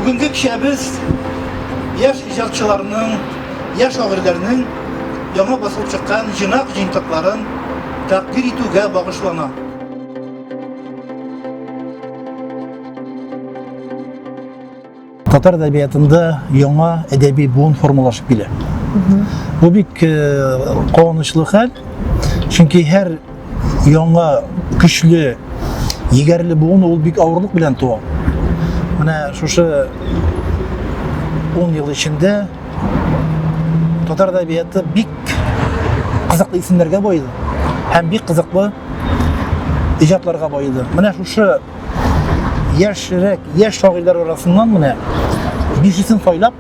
Бүгенге кичәбез яшь иҗатчыларның, яшь шагыйрьләрнең яңа басылып чыккан җыйнак җыентыкларын тәкъдир итүгә багышлана. Татар әдәбиятында яңа әдәби буын формалашып килә. Бу бик э, куанычлы хәл, чөнки һәр яңа көчле егәрле буын ул бик авырлык белән туа менә шушы он ел эчендә татар әдәбияты бик кызыклы исемнәргә баеды һәм бик кызыклы иҗатларга баеды менә шушы яшьрәк яшь шагыйрьләр арасыннан менә бишесен сайлап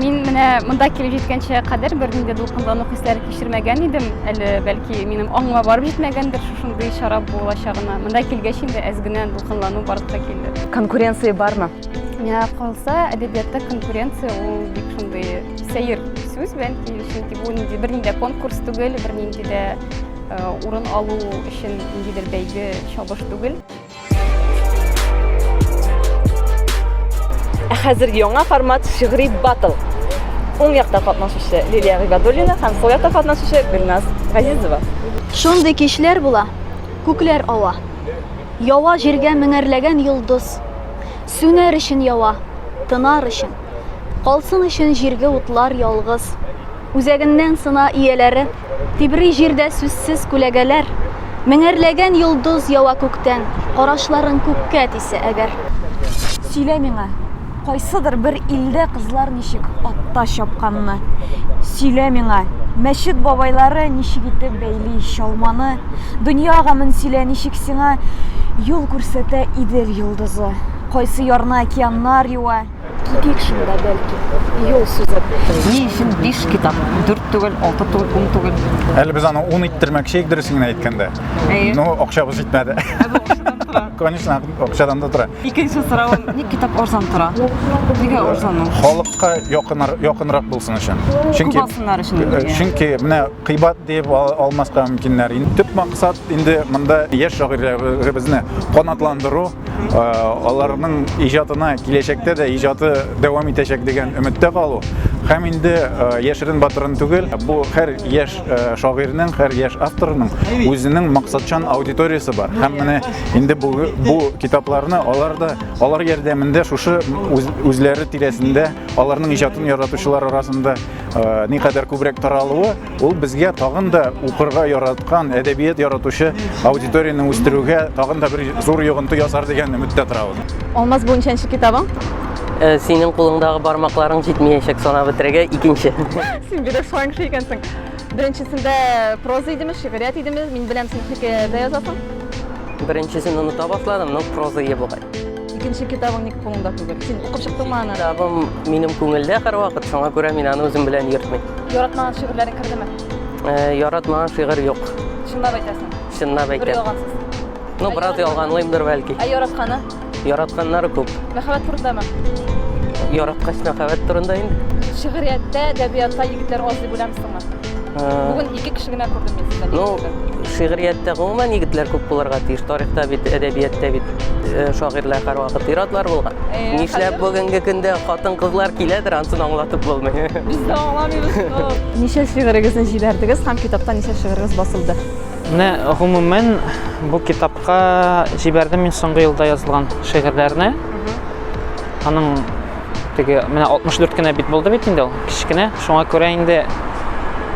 Мин менә монда килеп җиткәнчә кадәр бернинди дә дулкынлану хисләре кичермәгән идем. Әле бәлки минем аңыма барып җитмәгәндер шушындый чара булачагына. Монда килгәч инде әз генә дулкынлану барып та килде. Конкуренция бармы? Миңа калса, әдәбиятта конкуренция ул бик шундый сәер сүз бәлки, чөнки бу нинди бернинди конкурс түгел, бернинди дә э, урын алу өчен ниндидер бәйге чабыш түгел. Ә хәзер яңа формат шигъри батл. Уң якта катнашучы Лилия Гыйбадуллина һәм сул якта катнашучы Гөлназ Газизова. Шундый кичләр була, күкләр ава. Ява җиргә меңәрләгән йолдыз. Сүнәр өчен ява, тынар өчен. Калсын өчен җирге утлар ялгыз. Үзәгеннән сына ияләре. Тибри җирдә сүзсез күләгәләр, Меңәрләгән йолдыз ява күктән, Карашларың күккә тисә әгәр. Сөйлә миңа, кайсыдыр бер илдә Кызлар ничек атта чапканны? Сөйлә миңа, мәчет бабайлары Ничек итеп бәйли чалманы? Дөнья гамен сөйлә, ничек сиңа Юл күрсәтә Идел йолдызы? Кайсы ярны океаннар юа? Китик шунда, бәлки, юл сузып. Ни өчен биш китап? Дүрт түгел, алты түгел, ун түгел. Әле без аны ун иттермәкче идек, дөресен генә әйткәндә. Әйе. Но акчабыз җитмәде. Ә бу акчадан тора. Конечно, акчадан да тора. Икенче соравым, ник китап арзан тора? Нигә арзан ул? Халыкка якынар, якынрак булсын өчен. Чөнки Кубасыннар өчен Э, инде. Чөнки менә кыйбат дип ал- алмаска мөмкиннәр. Инде төп максат инде монда яшь шагыйрьләребезне канатландыру, аларның иҗатына киләчәктә дә иҗаты дәвам итәчәк дигән өметтә калу һәм инде яшерен батырын түгел бу һәр яшь шагыйрьнең һәр яшь авторның үзенең максатчан аудиториясе бар һәм менә инде бу бу китапларны алар да алар ярдәмендә шушы үзләре тирәсендә аларның иҗатын яратучылар арасында никадәр күбрәк таралуы Ул безгә тагын да укырга яраткан, әдәбият яратучы аудиторияне үстерүгә тагын да бер зур йогынты ясар дигән үметтә торабыз. Алмаз бу ничәнче китабың? Э, синең кулыңдагы бармакларың җитмиячәк санап бетерергә икенче. Син бирек шулай кеше икәнсең. Беренчесендә проза идеме, шигърият идеме? Мин беләм, син хикәядә язасың. Беренчесен оныта башладым, но проза ие бугай. Икенче китабың ник кулыңда түгел? Син укып чыктыңмы аны? Китабым минем күңелдә һәрвакыт, шуңа күрә мин аны үзем белән йөртмим. Яратмаган шигырьләрең кердеме? Э, яратмаган шигырь юк. Чынлап әйтәсең. Чынлап әйтәм. Бер ялгансыз. Ну, бераз ялганлыймдыр бәлки. Ә яратканы? Яратканнары күп. Мәхәббәт турындамы? Яраткач мәхәббәт турында инде. Шигырияттә, әдәбиятта егетләр аз дип уйлыйсыңмы? Бүген ике кеше генә күрдем мин сезне. Ну, шигърияттә гомумән егетләр күп булырга тиеш. Тарихта бит, әдәбияттә бит э, шагыйрьләр һәрвакыт иратлар булган. Э, Нишләп бүгенге көндә хатын-кызлар киләдер, ансын аңлатып булмый. Без дә аңламыйбыз. Ничә шигырегезне җибәрдегез һәм китапта ничә шигырегез басылды? Менә гомумән бу китапка җибәрдем мин соңгы елда язылган шигырьләрне. Аның Теге менә 64 кенә бит булды бит инде ул, кечкенә. Шуңа күрә инде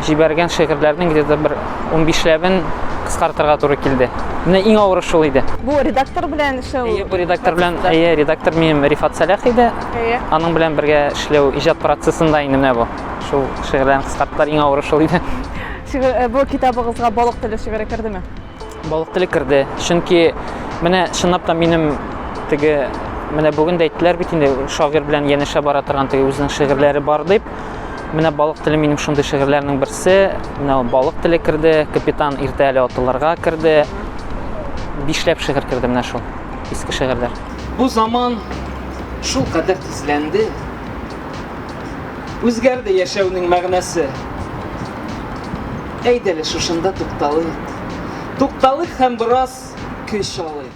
җибәргән шигырьләрнең где-то бер 15 ләбен кыскартырга туры килде. Менә иң авыры шул иде. Бу редактор белән эшләү. Әйе, бу редактор белән, әйе, редактор минем Рифат Салях иде. Әйе. Аның белән бергә эшләү иҗат процессында инде менә бу. Шул шигырьләрне кыскарттылар, иң авыры шул иде. Э, бу китабыгызга Балык теле шигыре кердеме? Балык теле керде, чөнки менә чынлап та минем теге менә бүген дә әйттеләр бит инде шагыйрь белән янәшә бара торган теге үзенең шигырьләре бар дип. Менә балык теле минем шундый шигырьләрнең берсе. Менә ул балык теле керде, капитан иртә әле атылырга керде. Бишләп шигырь керде менә шул. Иске шигырьләр. Бу заман шул кадәр тизләнде. Үзгәрде яшәүнең мәгънәсе. Әйдәле шушында тукталыйк. Тукталыйк һәм бераз көч алыйк.